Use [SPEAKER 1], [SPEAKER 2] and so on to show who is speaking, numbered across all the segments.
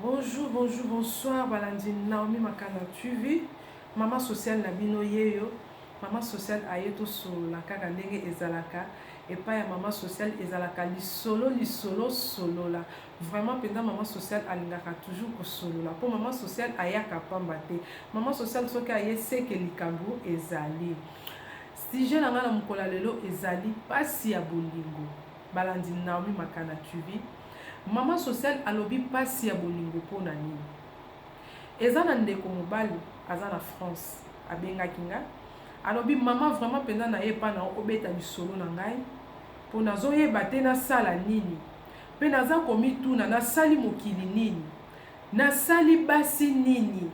[SPEAKER 1] Bonjour bonjour bonsoir balandi Naomi Makanda TV maman sociale na bino yeyo maman sociale aye tosolola kaka ndenge ezalaka epai ya maman sociale ezalaka lisolo lisolo solola vraiment mpenza maman sociale alingaka toujours kosolola mpo maman sociale ayaka pamba te maman sociale soki aye seke likambo ezali sujet na ngai na mokolo ya lelo ezali mpasi ya bolingo balandi Naomi Makanda TV Maman sociale alobi pasi ya bolingo pona nini? Eza na ndeko mobali aza na France abengaki nga alobi maman vraiment penza naye epa na yo obeta lisolo na ngai po nazo yeba te nasala nini pe naza komituna nasali mokili nini? Nasali basi nini?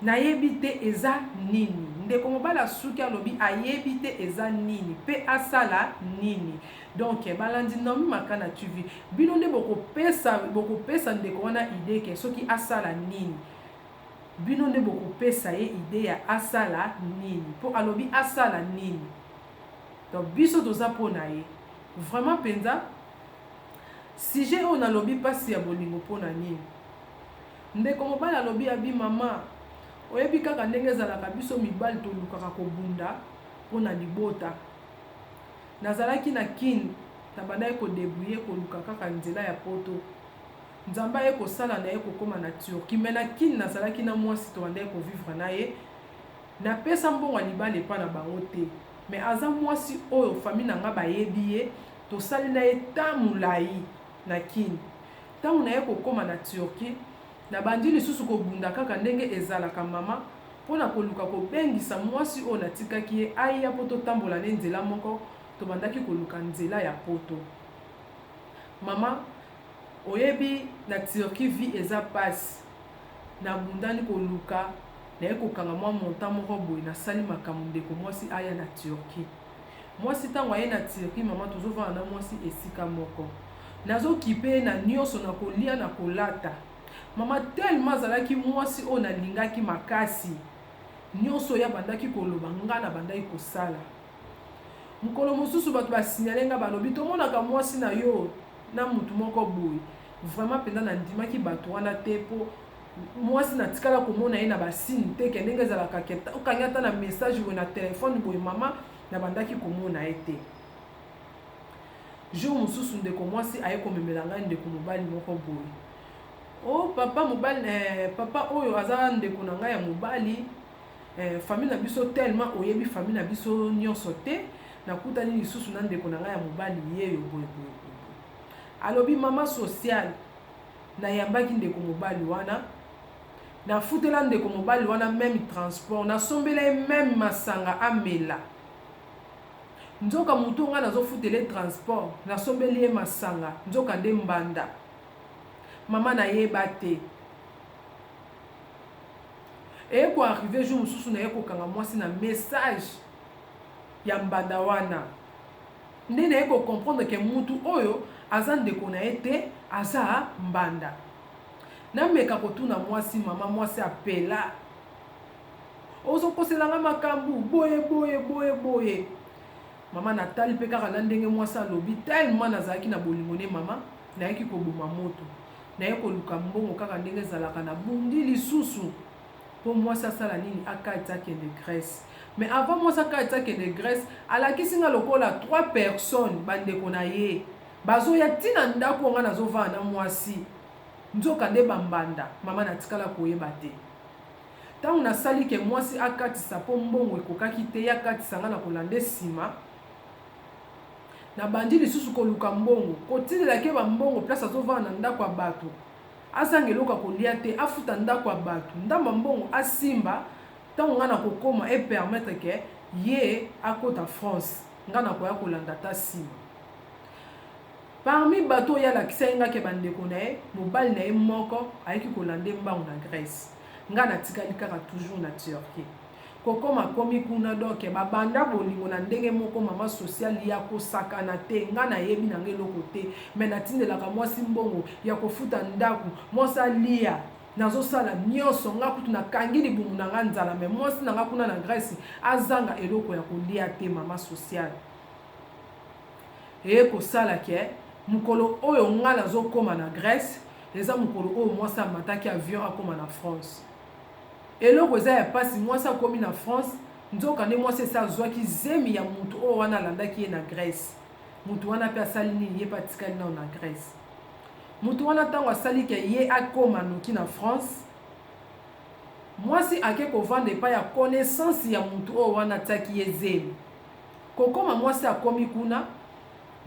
[SPEAKER 1] Nayebi te eza nini. Ndeko mobali asuki alobi ayebi te eza nini pe asala nini. Donc balandi Naomi Makana TV bino nde boko pesa boko pesa ndeko wana idee ke soki asala nini? Bino nde boko pesa ye idee ya asala nini? Po alobi asala nini? Donc biso toza po na ye. Vraiment penza sujet oyo nalobi pasi ya bolingo po na nini? Ndeko mobali alobi abi maman oyebi kaka ndenge ezalaka biso mibali tolukaka kobunda pona libota nazalaki na kin nabandaki ko debrouiller koluka kaka nzela ya poto nzambe aye kosala naye kokoma na turquie mais na kin nazalaki na muasi tobandaki ko vivre naye napesa mbongo ya libala epa na bango te mais aza muasi oyo famille nanga bayebi ye tosali naye temps mulayi na Kin. Tango naye kokoma na Turquie, nabandi lisusu kobunda kaka ndenge ezalaka mama mpo na koluka kobengisa mwasi oyo natikaki ye aya mpo totambola naye nzela moko, tobandaki koluka nzela ya poto. Mama, oyebi na Turquie vie eza pasi, nabundani koluka naye kokanga mwa montant moko boye, nasali makambo ndeko mwasi aya na Turquie. Mwasi tango aye na Turquie maman tozo vanda na mwasi esika moko nazo kipe ye na nioso na kolia na kolata maman tellement azalaki mwasi oyo na lingaki makasi nioso ye abandaki koloba nga na bandaki kosala mokolo mosusu bato ba signale nga balobi tomonaka mwasi na yo na mutu moko boye vraiment penza na ndimaki bato wana te po Mwasi na tikala komona ye na ba signe te ke ndenge ezalaka ke okangi ata na message boye na telephone boye mama na bandaki komona ye te. Jour mosusu ndeko mwasi aye komemela ngai ndeko mobali moko boye. Oh papa mobali eh, papa oyo aza ndeko na ngai ya mobali eh, famille na biso tellement oyebi famille na biso nyonso te nakutani lisusu na ndeko na ngai ya mobali yeyo boye boye boye alobi mama sociale Nayambaki ndeko mobali wana, nafutela ndeko mobali wana meme transport, nasombela ye meme masanga amela. Nzoka moto oyo ngai nazofutela ye transport, nasombeli ye masanga, nzoka nde mbanda. Mama nayeba te. Eye ko arriver jour mosusu naye kokanga mwasi na message ya mbanda wana. Nde naye ko comprendre ke mutu oyo aza ndeko naye te aza mbanda. Na meka ko tuna mwasi maman mwasi a pela ozo kosela nga makambu boye boye boye boye maman na tali pe kaka na ndenge mwasi alobi tellement na zalaki na bolingo ne maman nayaki ko boma moto naye ko luka mbongo kaka ndenge ezalaka na bundi lisusu Po mwasi asala nini akati akende Grèce mais avant mwasi akati akende Grèce alakisi nga lokola trois personnes ba ndeko na ye bazoya ti na ndaku oyo nga nazo vanda na mwasi nzoka nde ba mbanda maman natikala koyeba te tangu nasali ke mwasi akatisa po mbongo ekokaki te ye akatisa nga na kolande sima na bandi lisusu koluka mbongo kotilela ke ba mbongo place azo vanda na ndaku ya batu azanga eloko ya kolia te afuta ndaku ya batu ndambu ya mbongo asimba tangu nga nakokoma e permettre que ye akota France nga nakoya kolanda ata sima parmi batu oyo ye alakisaki nga ke ba ndeko naye mobali naye moko ayaki kolanda ye mbangu na Grèce nga natikali kaka toujours na Turquie. Kokoma komi kuna donc ba banda bolingo na ndenge moko maman social ya kosakana te nga na yebi na nga eloko te mais na tindelaka mwasi mbongo ya kofuta ndaku mwasi alia nazo sala nionso nga kutu na kangi libumu na nga nzala mais mwasi na nga kuna na Grèce azanga eloko ya kolia te maman social eye kosala ke mukolo oyo nga nazo koma na Grèce eza mukolo oyo mwasi amataki avion akoma na France Eloko eza ya pasi mwasi akomi na France nzoka nde mwasi esi azwaki zemi ya mutu oyo wana alandaki ye na Grèce mutu wana pe asali nini ye pe atikali nanu na Grèce mutu wana tango asali ke ye akoma noki na France mwasi ake kovanda epai ya connaissance ya mutu oyo wana atiaki ye zemi kokoma mwasi akomi kuna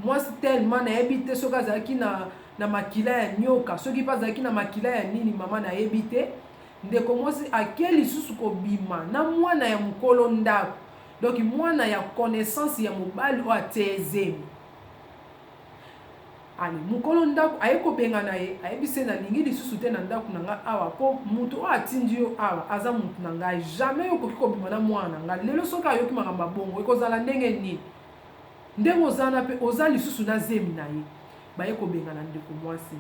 [SPEAKER 1] Mwasi tellement nayebi te soki azalaki na, na makila ya nyoka, soki mpe azalaki na makila ya nini mama nayebi te. Ndeko mwasi ake lisusu kobima na mwana ya mokolo ndako, donc mwana ya connaissance ya mobali oyo atie ye zemi. Ale, mokolo ndako aye kobengana ye, ayebisi ye nalingi lisusu te na ndako na ngai awa, mpo moto oyo atindi yo awa aza moto na ngai, jamais yo okoki kobima na mwana na ngai. Lelo soki ayoki makambo ya bongo ekozala ndenge nini? Ndenge oza wana pe oza lisusu na zemi na ye. Baye kobengana ndeko mwasi.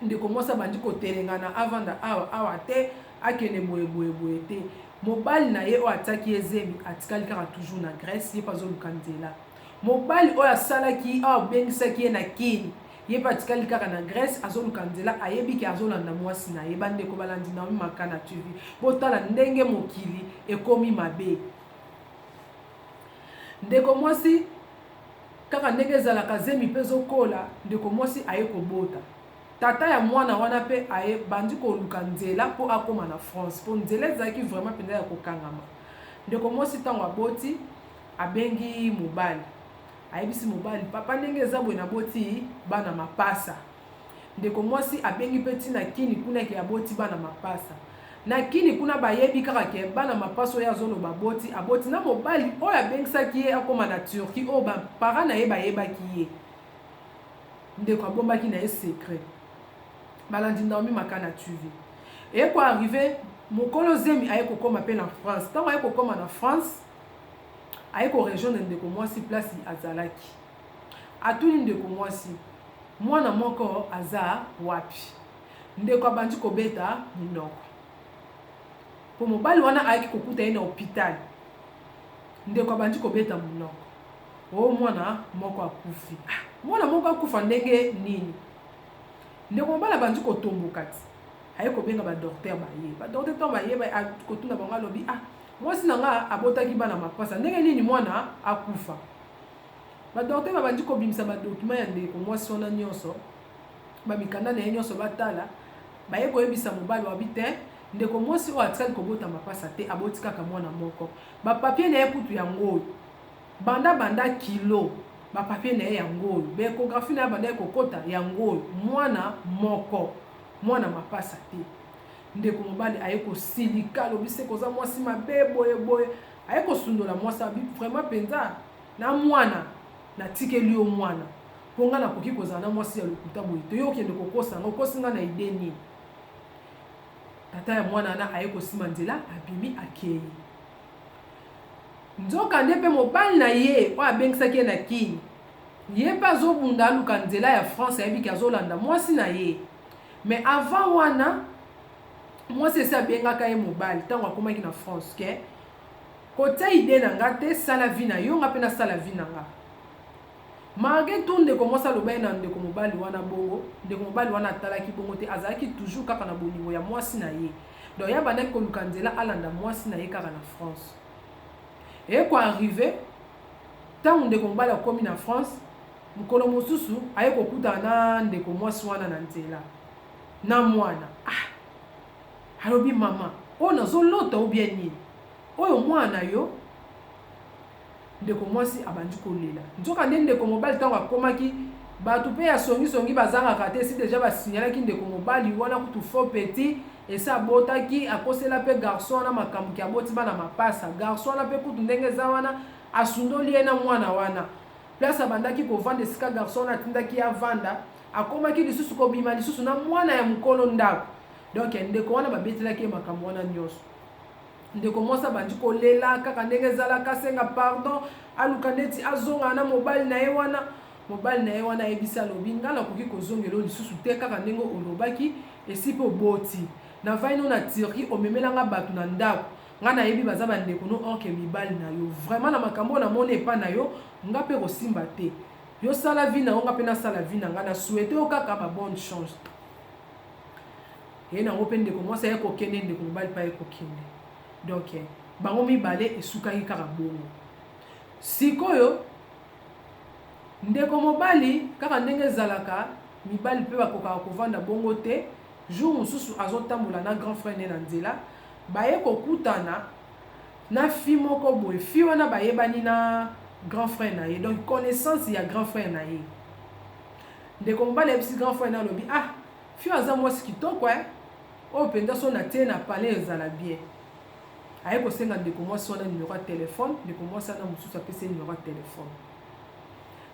[SPEAKER 1] Ndeko mwasi abandi kotelengana avanda awa awa te akende boye boye boye te. Mobali na ye oyo atiaki ye zemi atikali kaka toujours na Grèce ye pe azoluka nzela. Mobali oyo asalaki oyo abengisaki ye na Kin ye pe atikali kaka na Grèce azoluka nzela ayebi ke azolanda mwasi na ye. Bandeko balandi Naomi Makana TV botala ndenge mokili ekomi mabe. Ndeko mwasi kaka ndenge ezalaka zemi pe ezo kola ndeko mwasi aye kobota tata ya mwana wana pe aye bandi koluka nzela po akoma na France po nzela ezalaki vraiment penza ya kokangama ndeko mwasi tango aboti abengi mobali ayebisi mobali papa ndenge eza boye na boti bana mapasa Ndeko mwasi abengi pe ti na kini kuna ke aboti bana mapasa. Na kini kuna ba yebi kaka ke bana mapasa oyo azo loba aboti, aboti na mobali oyo abengisaki ye akoma na Turquie oyo ba parents na ye ba yebaki ye. Ndeko abombaki na ye secret. Balandi Naomi Makana TV. Eye ko arrive mokolo zemi aye ko koma pe na France. Tango aye ko koma na France, aye ko rejoindre ndeko mwasi place azalaki. Atuni ndeko mwasi, Mwana moko aza wapi? Ndeko abandi kobeta minoko. Po mobali wana ayaki kokuta ye na hopital. Ndeko abandi kobeta monoko. Oh mwana moko akufi. Ah, mwana moko akufa ndenge nini? Ndeko mobali abandi kotomboka ti. Aye kobenga ba docteur baye. Ba docteur to baye ba kotuna bango alobi, ah, mwasi na nga abotaki bana mapasa. Ndenge nini mwana akufa? Ba docteurs babandi kobimisa ba documents ya ndeko mwasi wana nionso, ba mikanda na ye nionso batala, baye koyebisa mobali wabi te, ndeko mwasi oyo atikali kobota mapasa te, aboti kaka mwana moko. Ba papiers na ye kutu yango oyo. Banda banda kilo, ba papiers na ye yango oyo. Ba echographies na ye abandaki kokota yango oyo, mwana moko. Mwana mapasa te. Ndeko mobali aye kosilika, alobi seke oza mwasi mabe boye boye. Aye kosundola mwasi ya batu vraiment penza na mwana na tikeli yo mwana po nga na koki kozala na mwasi ya lokuta boye te yo okende kokosa nga okosi nga na idee nini tata ya mwana wana aye kosima nzela abimi akei nzoka nde mpe mobali na ye oyo abengisaki ye na kini ye mpe azobunda aluka nzela ya france ayebiki azolanda mwasi na ye mais avant wana mwasi esi abengaka ye mobali ntango akomaki na france ke kotia ide na nga te sala vi na yo nga mpe nasala vi na nga marge to ndeko mwasi aloba ye na ndeko mobali wana bongo ndeko mobali wana atalaki bongo te azalaki toujours kaka na bolingo ya mwasi na ye donc ye abandaki koluka nzela alanda mwasi na ye kaka na france ekoarrive ntango ndeko mobali akomi na france mokolo mosusu aye kokutana na ndeko mwasi wana na nzela na muana ah alobi maman oyo nazo lota ou bien nini oyo muana na yo ndeko muasi abandi kolela nzoka nde ndeko mobali tango akomaki batu pe ya songi songi bazangaka te si deja ba signalaki ndeko mobali wana kutu faux petit esi abotaki akosela pe garçon wana makambo ki aboti bana mapasa garçon wana pe kutu ndenge eza wana asundoli ye na muana wana place abandaki kovanda esika garçon wana atindaki avanda Akomaki lisusu kobima lisusu na mwana ya mokolo ndako. Donc ndeko wana babetelaki ye makambo wana nyonso. Ndeko mwasi abandi kolela kaka ndenge ezalaka, asenga pardon, aluka neti azongana na mobali na ye wana. Mobali na ye wana ayebisi alobi, ngai nakoki kozongela oyo lisusu te kaka ndenge olobaki, esi pe oboti. Na vai no na Turquie, omemela nga bato na ndako. Nga nayebi baza bandeko no or ke mibali na yo. Vraiment na makambo oyo namoni epai na yo, nga pe kosimba te. Yo sala vie na yo nga pe na sala vie na nga na souhaite yo kaka ba bonne chance. Ye na ngo pe ndeko mwasi aye kokende ndeko mobali pa ye kokende. Donc eh, bango mibale esukaki kaka bongo. Sikoyo ndeko mobali kaka ndenge ezalaka mibali pe bakokaka kovanda bongo te jour mosusu azotambola na grand frère ne na nzela baye kokutana na fille moko boye fille wana bayebani na grand frère na ye donc connaissance ya grand frère na ye ndeko mobali ayebisi grand frère na alobi ah fille aza mwasi kitoko eh? oyo mpenza so na tie na palais ezala bien aye kosenga ndeko mwasi wana numero ya telefone ndeko mwasi wana mosusu apesi ye numero ya telefone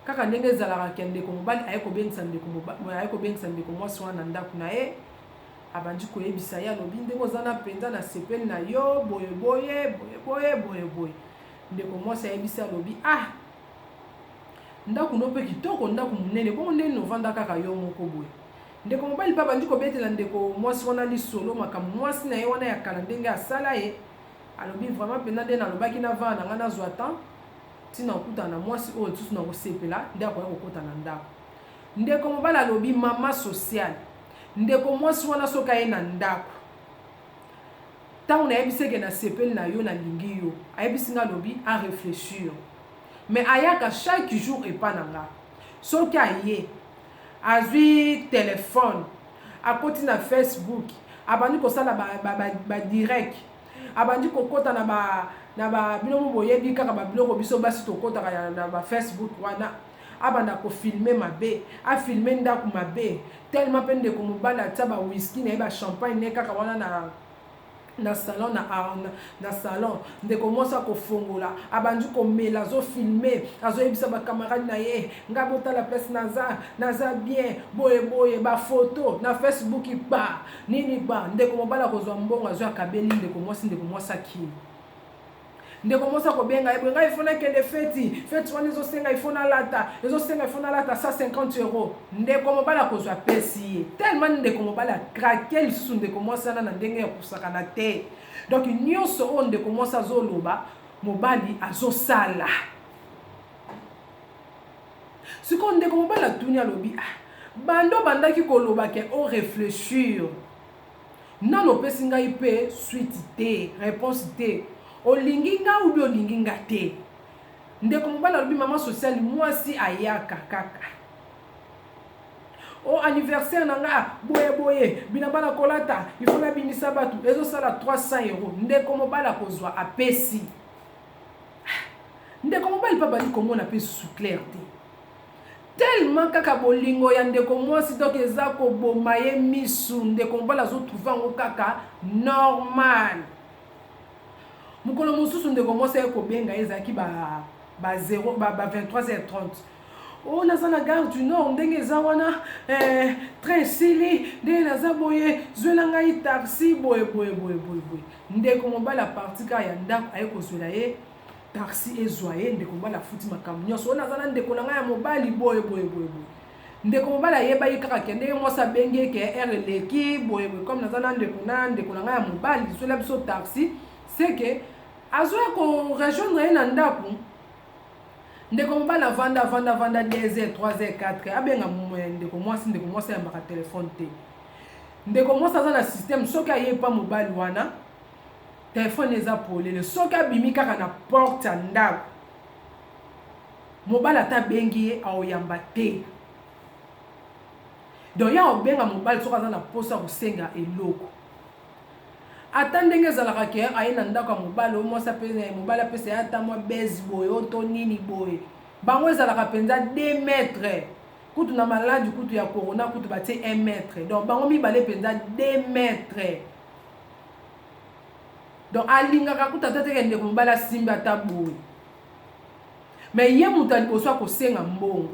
[SPEAKER 1] kaka ndenge ezalaka ke ndeko mobali aye kobengisa ndeko mwasi wana na ndako na ye Abandi koyebisa ye, alobi, Ndenge oza na mpenza, nasepeli na yo, boye boye, boye boye, boye boye. Ndeko mwasi ayebisi, alobi, Ah! Ndako no mpe kitoko, ndako monene, bongo nde nini ovanda kaka yo moko boye? Ndeko mobali mpe abandi kobetela ndeko mwasi wana lisolo, makambo mwasi na ye wana ya kala ndenge asala ye. Alobi, Vraiment mpenza nde nalobaki na vana na ngai nazwa temps, ntina okutana na mwasi oyo lisusu nakosepela nde akoya kokota na ndako. Ndeko mobali alobi, Mama sociale. Ndeko mwasi wana soki aye na ndaku tangu nayebisi ye ke nasepeli na yo nalingi yo ayebisi nga alobi a reflechir mais ayaka chaque jour epa na nga soki aye azwi telephone akoti na Facebook abandi kosala ba, ba, ba, ba direct abandi kokota na ba na ba bino boyebi kaka ba biloko biso basi tokotaka na ba Facebook wana abanda ko filme mabe a filme ndaku mabe tellement pe ndeko mobali atia ba whisky naye ba champagne naye kaka wana na na salon na, na, na salon ndeko mwasi akofongola abandi komela azofilme azoyebisa bakamarade na ye ngai botala place naza naza bien boye boye bafoto na facebook ba nini ba ndeko mobali akozwa mbongo azwi akabeli ndeko mwasi ndeko mwasi akili Ndeko mwasi akobenga ye boye, ngai ifo nakende feti, feti wana ezosenga ifo nalata, ezosenga ifo nalata 150 euro. Ndeko mobali akozwa apesi ye. Tellement ndeko mobali akrake lisusu ndeko mwasi wana na ndenge ya kosakana te. Donc nyonso oyo ndeko mwasi azoloba, mobali azosala. Sikoyo ndeko mobali atuni alobi, ah, banda obandaki koloba ke o reflechir Nanu opesi ngai pe suite te, reponse te. Olingi nga ou bien olingi nga te. Ndeko mobali alobi maman sociale muasi ayaka kaka. Oh anniversaire na nga boye boye, bilamba na kolata il faut na bimisa batu ezo sala 300 euros. Ndeko mobali akozua apesi. Ndeko mobali pe abandi komona pe lisusu claire te. Tellement kaka bolingo ya ndeko mwasi donc eza koboma ye misu ndeko mobali azo trouver yango kaka normal mokolo mosusu ndeko mwasi aye kobenga ye ezalaki ba ba 0 ba, ba 23h30 oyo oh, naza na gare du nord ndenge eza wana eh, train esili ndenge naza boye zwela ngai taxi boye boye boye boye boye ndeko mobali aparti kaka ya ndako aye kozwela ye taxi ezwa ye ndeko mobali afuti makambo nyonso wana aza na ndeko na ngai ya mobali boye boye boye boye ndeko mobali ayeba ye kaka ke ndenge mwasi abengi ye ke ere eleki boye boye comme naza na ndeko na ndeko na ngai ya mobali zola biso taxi seke azoya korejoindre ye na ndako ndeko mobali avanda avanda avanda 2 heures 3 heures 4 heures abenga ndeko mwasi ndeko mwasi ayambaka telefone te ndeko mwasi aza na systeme soki aye epa mobali wana Telephone eza polele soki abimi kaka na porte ya ndako mobali ata abengi ye aoyamba te donc ya obenga mobali soki aza na mposa ya kosenga eloko ata ndenge ezalaka ke aye na ndako ya mobali oyo mwasi apesa ye mobali apesa ye ata mwa base boye oyo to nini boye bango ezalaka mpenza 2 mètre kutu na maladi kutu ya corona kutu batie 1 mètre donc bango mibale mpenza 2 mètre donc alingaka kutu ata teke ndeko mobali asimbi ata boye me ye moto ya liboso akosenga mbongo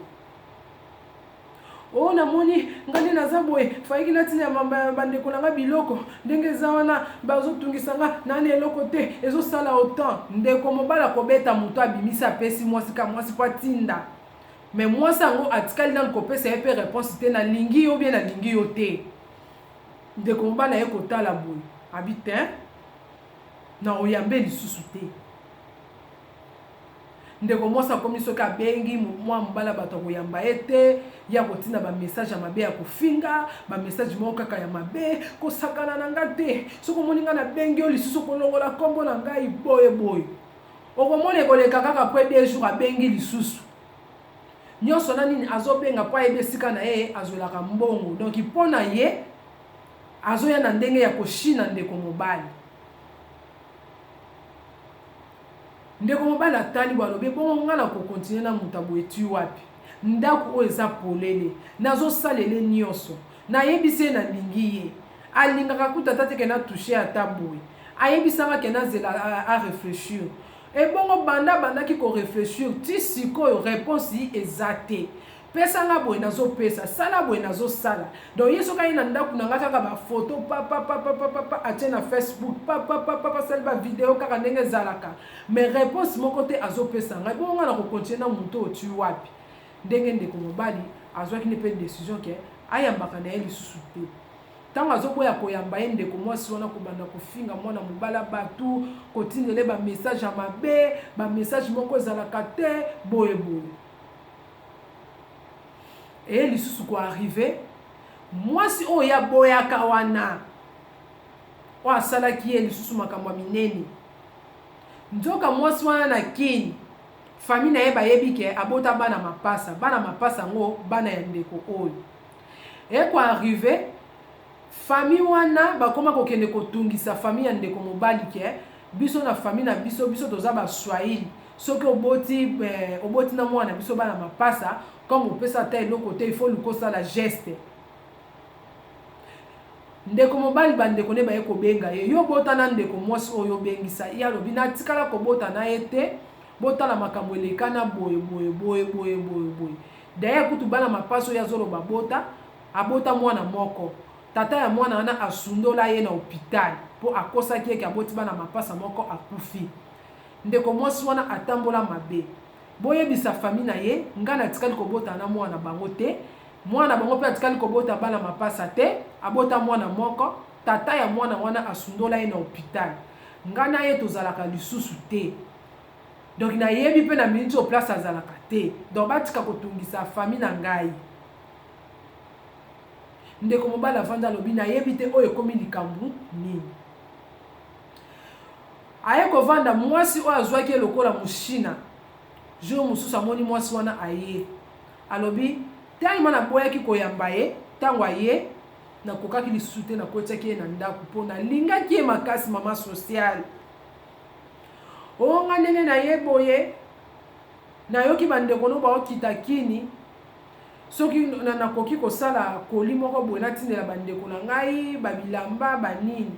[SPEAKER 1] oyo oh, namoni ngai nde naza boye fayiki natina ya bandeko na ngai biloko ndenge eza wana bazotungisa ngai nani eloko te ezosala otan ndeko mobali akobeta moto abimisi apesi mwasi ka mwasi mpo atinda me mwasi yango atikali nanu kopesa ye mpe reponse te nalingi yo bie nalingi yo te Ndeko mobali aye kotala boye abi tein nako yambe lisusu te ndeko mwasi akomi soki abengi mwa mobala bato ya koyamba ye te ya kotinda bamessage ya mabe ya kofinga bamessage moko kaka ya mabe kosakana na ngai te soki omoni ngai nabengi yo lisusu kolongola nkombo na ngai boye boye okomona ekoleka kaka pre de jour abengi lisusu nionso na nini azobenga mpo ayebi esika na ye azwelaka mbongo donc mpo na ye azoya na ndenge ya koshina ndeko mobali ndeko mobali atali bo alobi bongo ngai na kokontinue na moto aboye ti wapi ndako oyo eza polele nazosalele nyonso nayebisi ye nalingi ye alingaka kuta ata te ke na touche ata boye ayebisaka ke nazela areflechir Ebongo banda abandaki ko reflechir ti sikoyo reponse eza te pesa nga boye nazo pesa sala boye nazo sala donc ye soki aye na ndaku na nga kaka ba photo papapapapapa atie na Facebook papapapapa asali ba video kaka ndenge ezalaka mais reponse moko te azo pesa nga ebongo nga nako continue na mutu oyo ti wapi ndenge ndeko mobali azwaki nde pe decision ke ayambaka na ye lisusu te. Tango azoboya koyamba ye ndeko muasi wana kobanda kofinga muana mobali ya batu, kotindela ye ba message ya mabe, ba message moko ezalaka te, boye boye. Eye lisusu ko arriver, muasi oyo ye aboyaka wana, oyo asalaki ye lisusu makambo ya minene, nzoka muasi wana na Kin, famille na ye bayebi ke abota bana mapasa, bana mapasa yango bana ya ndeko oyo. Eko arrive famille wana bakoma kokende kotungisa famille ya ndeko mobali ke biso na famille na biso biso toza ba swahili soki oboti eh, oboti na mwana biso bana mapasa comme opesa ata eloko te il faut luka osala geste ndeko mobali bandeko nde baye kobenga ye yo obota na ndeko mwasi oyo obengisa ye alobi natikala kobota na ye te botala makambo elekana boye boye boye boye boye boye D'ailleurs kutu bana mapasa oyo azo loba abota, abota mwana moko. Tata ya mwana wana asundola ye na hopital po akosaki ye ke aboti bana mapasa moko akufi. Ndeko mwasi wana atambola mabe. Boyebisa famille na ye nga natikali kobota na mwana na bango te, mwana na bango pe atikali kobota bana mapasa te, abota mwana moko, tata ya mwana wana asundola ye na hopital. Nga na ye tozalaka lisusu te. Donc na yebi pe na minute oyo place azalaka te. Donc batika kotungisa famille na ngai. Ndeko mobali avanda alobi na yebi te oyo ekomi likambu nini. Aye kovanda mwasi oyo azwaki lokola mushina. Jour mosusu amoni mwasi wana aye. Alobi tellement naboyaki koyamba ye tango aye nakokaki lisusu te nakotiaki ye na ndako po nalingaki ye makasi mama sociale. Oh nga ndenge na ye boye nayoki bandeko no baokita kini soki nakoki kosala koli moko boye natindela bandeko na ngai babilamba banini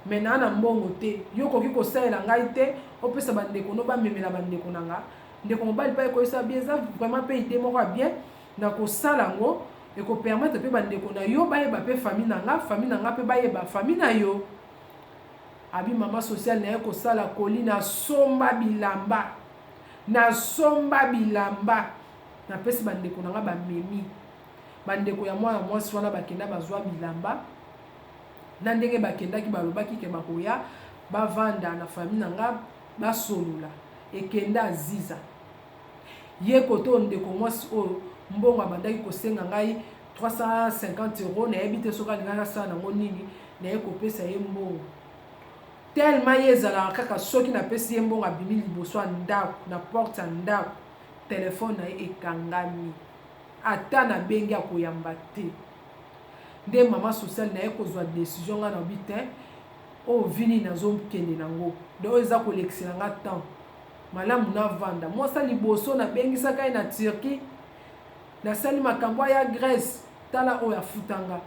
[SPEAKER 1] me naa na mbongo te yo okoki kosalela ngai te opesa bandeko no bamemela bandeko na nga ndeko mobali mpe ekoyisa bie eza vraiment mpe ide moko ya bien na kosala yango ekopermetre mpe bandeko na yo bayeba mpe fami na nga fami na nga mpe bayeba fami na yo Abi mama social naye kosala colis na somba bilamba na somba bilamba na pesi ba ndeko na nga ba memi ba ndeko ya mwana mwasi wana bakenda bazwa bilamba na ndenge bakendaki balobaki ke bakoya bavanda na famille na nga basolola ekenda aziza ye koto ndeko mwasi oyo mbongo abandaki kosenga ngai 350 euros nayebi te soki alingaki asala nango nini naye kopesa ye mbongo telema ye ezalaka kaka soki napesi ye mbongo abimi liboso ya ndako na porte ya ndako telefone na ye ekangami ata nabengi akoyamba te nde mama sociale naye kozwa desizio ngai nabi te oyo oh, vini nazokende nango de oyo eza kolekisela nga temps malamu navanda mwasa liboso nabengisaka ye na turquie Nasali makambo aya Grèce tala oyo afuta nga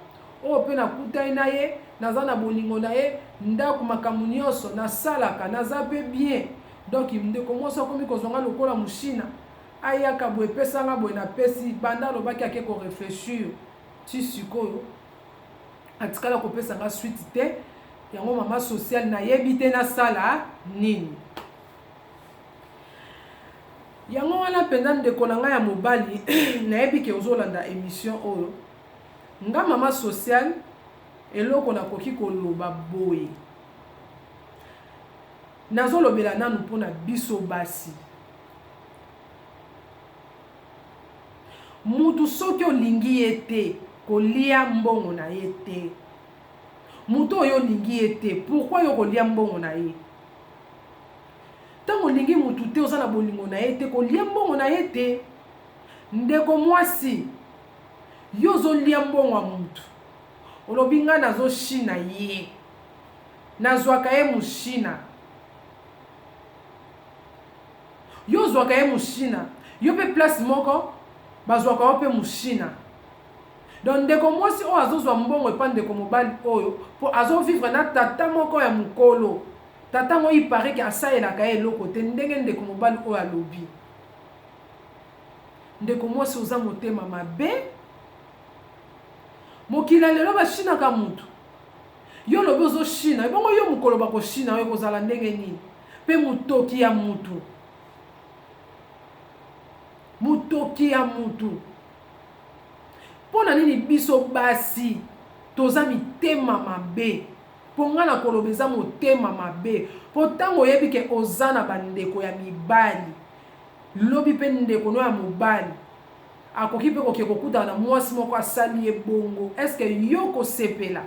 [SPEAKER 1] oyo pe nakutani na ye naza na bolingo na ye ndaku makambo nionso nasalaka naza pe bien donc ndeko mwasi akomi kozwa nga lokola mushina ayaka boye pesa nga boye na pesi banda alobaki ake ko reflechir ti sikoyo atikala kopesa nga suite te yango mama social nayebi te nasala nini Yango wana mpenza ndeko na ngai ya mobali nayebi ke ozolanda emission oyo nga mama sociale eloko nakoki koloba boye nazolobela nanu mpo na biso basi mutu soki olingi ye te kolia mbongo na ye te Moto oyo olingi ye te pourquoi yo kolia mbongo na ye? Tango olingi mutu te oza na bolingo na ye te kolia mbongo na ye te. Ndeko mwasi yo ozolia mbongo ya mutu olobi nga nazo shina ye nazwaka ye mushina yo ozwaka ye mushina yo pe place moko bazwaka yo pe mushina Donc ndeko mwasi oyo azo zwa mbongo epa ndeko mobali oyo po azo vivre na tata moko ya mukolo. Tata yango il parait que asalelaka ye eloko te ndenge ndeko mobali oyo alobi. Ndeko mwasi oza motema mabe. Mokili ya lelo ba shinaka mutu. Yo olobi ozo shina ebongo yo mukolo bako shina yo ekozala ndenge nini? Pe mutoki ya mutu. Mutoki ya mutu. Pona nini biso basi toza mitema mabe? Po nga na koloba eza motema mabe po tango oyebi ke oza na ba ndeko ya mibali lobi pe ndeko no ya mobali akoki pe koke kokutana na muasi moko asali ye bongo est ce que yo kosepela?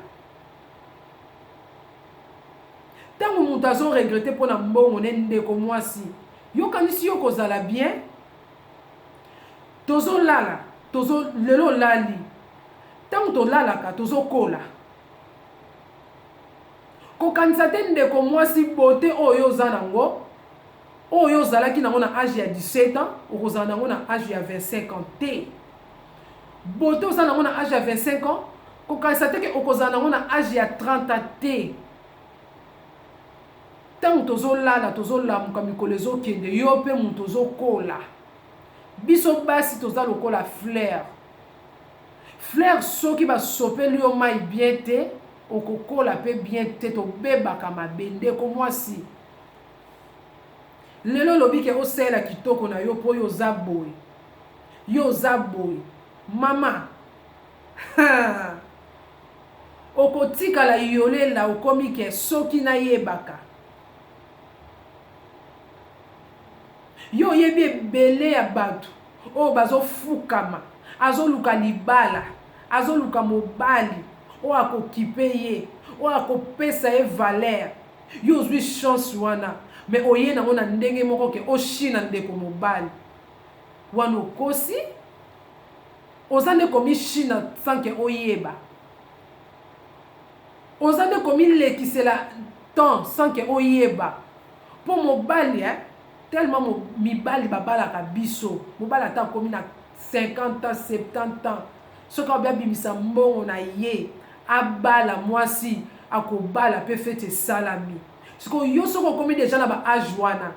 [SPEAKER 1] Tango mutu azo regrette pona mbongo ne ndeko muasi yo kanisi yo kozala bien? tozolala tozo lelo olali ntango tolalaka tozokola kokanisa te ndeko mwasi bote oyo oza nango oyo ozalaki nango na age ya 17 ans okozala nango na age ya 25 ans te bote oza nango na age ya 25 ans kokanisa te ke okozala nango na age ya 30 ans te Tango tozo lala tozo lamuka mikolo ezo kende yo pe mutu ozo kola biso basi toza lokola fleur fleur soki ba sopeli yo mayi bien te oko kola pe bien te tobebaka mabe ndeko mwasi lelo olobi ke osalela kitoko na yo po yo oza boye yo oza boye mama haa Okotikala yole la okomi que soki na yebaka yo oyebi ebele ya batu oyo bazo fukama azo luka libala azo luka mobali oyo ako kipe ye oyo ako pesa ye valeur yo ozui chance wana mais oye nango na ndenge moko que o china ndeko mobali wana okosi Oza nde ko mi china sans que oyeba. Oza nde ko mi lekisela temps sans que oyeba. Po mobali eh tellement mibali ba balaka biso. Mobali ata akomi na 50 ans, 70 ans soki alobi abimisa mbongo na ye abala mwasi ako bala pe feti esalami. Sikoyo yo soki okomi dejà na ba age wana.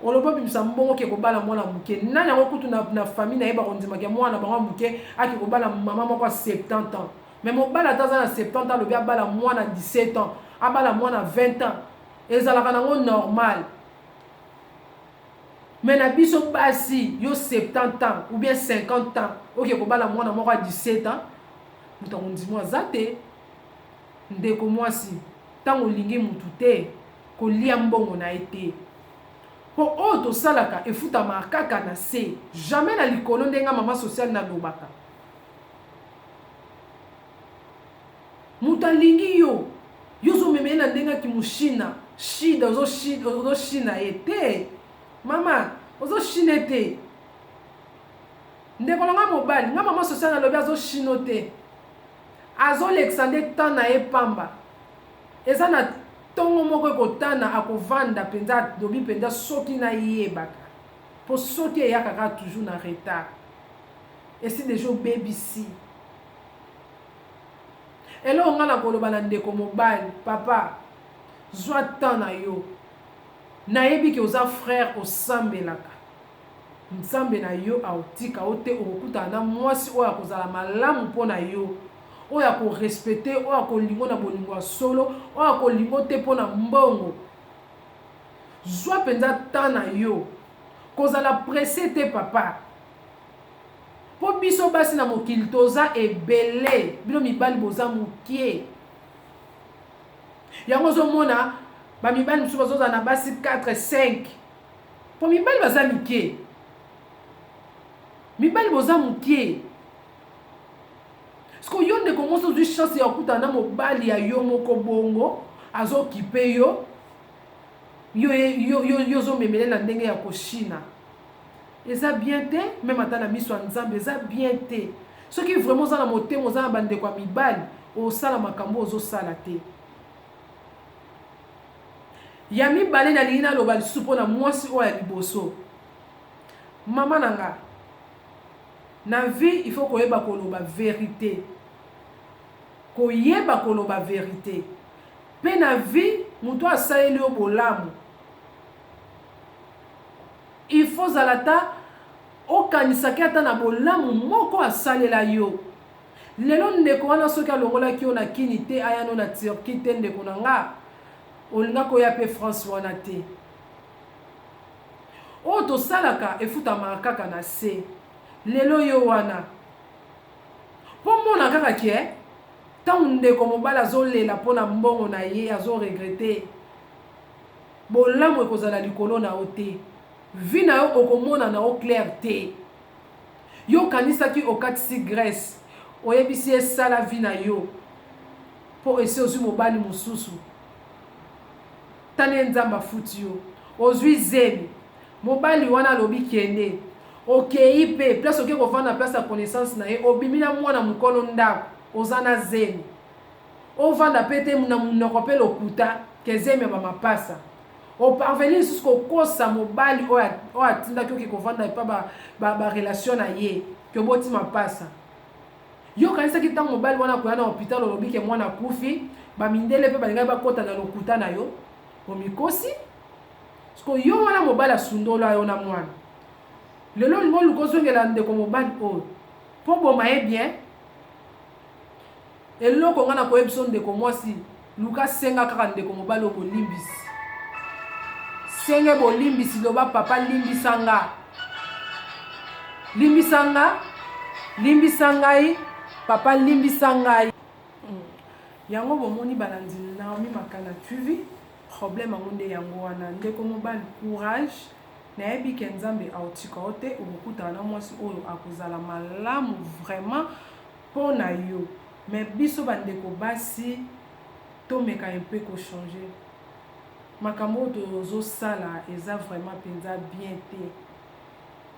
[SPEAKER 1] Olobi obimisa mbongo oke kobala mwana ya muke nani yango kutu na, na famille naye bakondima ke mwana na bango ya muke ake kobala maman moko ya 70 ans mais mobali ata aza na 70 ans alobi abala mwana 17 ans abala mwana 20 ans ezalaka nango normal mais na biso basi yo 70 ans ou bien 50 ans oke kobala mwana moko ya 17 ans moto akondima aza te Ndeko mwasi, ntango olingi moto te, kolia mbongo na ye te. Mpo oyo tosalaka efutamaka kaka na se, jamais na likolo nde nga mama sociale nalobaka. Moto alingi yo, yo ozomema ye na ndenge ya kimushina, shida, ozoshina ye te. Mama, ozoshine te. Ndeko na nga mobali, nga mama sociale nalobi azoshino te. Azo lekisa nde temps na ye pamba. Eza na tongo moko eko tana ako vanda penza a lobi penza soki na yebaka. Po soki eyaka kaka toujours na retard. Esi dejà obebisi eloko nga nako loba na ndeko mobali papa zua temps na yo. Na yebi ke oza frère osambelaka. Nzambe na yo akotika yo te, okokutana na mwasi oyo akozala malamu mpo na yo, oyo akorespete yo, oyo akolinga yo na bolingo ya solo, oyo akolinga yo te mpo na mbongo. Zwa mpenza temps na yo, kozala presse te papa, mpo biso basi na mokili toza ebele, bino mibali boza mokie. Yango ozomona bamibali mosusu bazozala na basi 4 5 Po mibali baza mike. Mibali boza mukie. Siko yo ndeko mwasi ozwi chance ya kokutana na mobali ya yo moko bongo azokipe yo yo yo yo yo ozomemele na ndenge ya koshina eza bien te meme ata na miso ya nzambe eza bien te soki vraiment oza na motema oza na bandeko ya mibali osala makambo ozosala te Ya mibale nalingi naloba lisusu mpo na mwasi oyo ya liboso. Mama na nga, na vie il faut koyeba koloba verite. Koyeba koloba verite. Mpe na vie, moto asaleli yo bolamu. Il faut zala ta okanisaki ata na bolamu moko asalela yo. Lelo ndeko wana soki alongolaki yo na kin te aya no na Turquie te ndeko na nga olingaki oya pe France wana te. Oyo tosalaka efutamaka kaka na se. Lelo yo wana. Po mona kaka ke tango ndeko mobali azo lela pona mbongo na ye azo regrette bolamu ekozala likolo na yo te. Vie na yo okomona na yo claire te. Yo okanisaki okatisi Grace oyebisi ye sala vie na yo po esi ozui mobali mususu tale nzambe afuti yo ozui zemi mobali wana alobi kende okeyi pe place oke kovanda place ya connaissance na ye obimi na mwana mukolo ndaku oza na zemi ovanda pe te na munoko pe lokuta ke zemi ya ba mapasa O parvenir lisusu ko kosa mobali oyo atindaki yo ke ko vanda epa ba ba ba relation na ye ke oboti mapasa. Yo okanisaki tango mobali wana akoya na hopital olobi ke mwana akufi ba mindele pe balingaki ba kota na lokuta na yo? Omikosi. Siko yo wana mobali asundola yo na mwana. Lelo olingi oluka ozongela ndeko mobali oyo po oboma ye bien? Eloko nga nako yebisa yo ndeko mwasi luka senga kaka ndeko mobali oyo bolimbisi senge bolimbisi loba papa limbisa nga limbisa nga limbisa ngai papa limbisa ngai hmm. yango bomoni balandi naomi makana tuvi problème yango nde yango wana ndeko mobali courage nayebi ke nzambe autika yo te okokutana na mwasi oyo akozala malamu vraiment Pona yo mais biso ba ndeko basi tomeka un peu ko change makambo oyo tozo sala eza vraiment penza bien te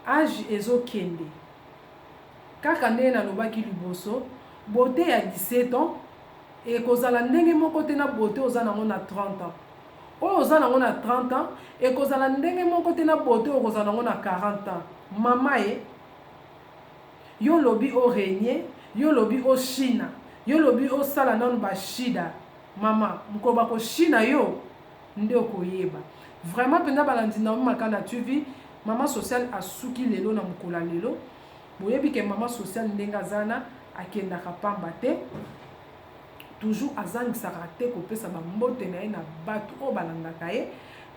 [SPEAKER 1] age ezo kende kaka ndenge na lobaki liboso beaute ya 17 ans ekozala ndenge moko te na beaute oza nango na 30 ans oyo oza nango na 30 ans ekozala ndenge moko te na beaute oyo okozala nango na 40 ans mama e Yo olobi o reigner, yo olobi o shina, yo olobi osala nanu ba shida, mama mokolo bako shina yo nde okoyeba. Vraiment penza balandi Naomi Makanda TV, mama social asuki lelo na mokolo ya lelo, boyebi ke mama social ndenge aza na akendaka pamba te. Toujours azangisaka te kopesa ba mbote na ye na batu oyo balandaka ye,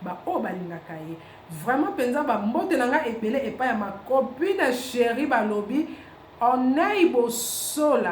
[SPEAKER 1] ba oyo balingaka ye. Vraiment penza ba mbote na nga ebele epai ya ma copine cherie balobi Ornei Bosola.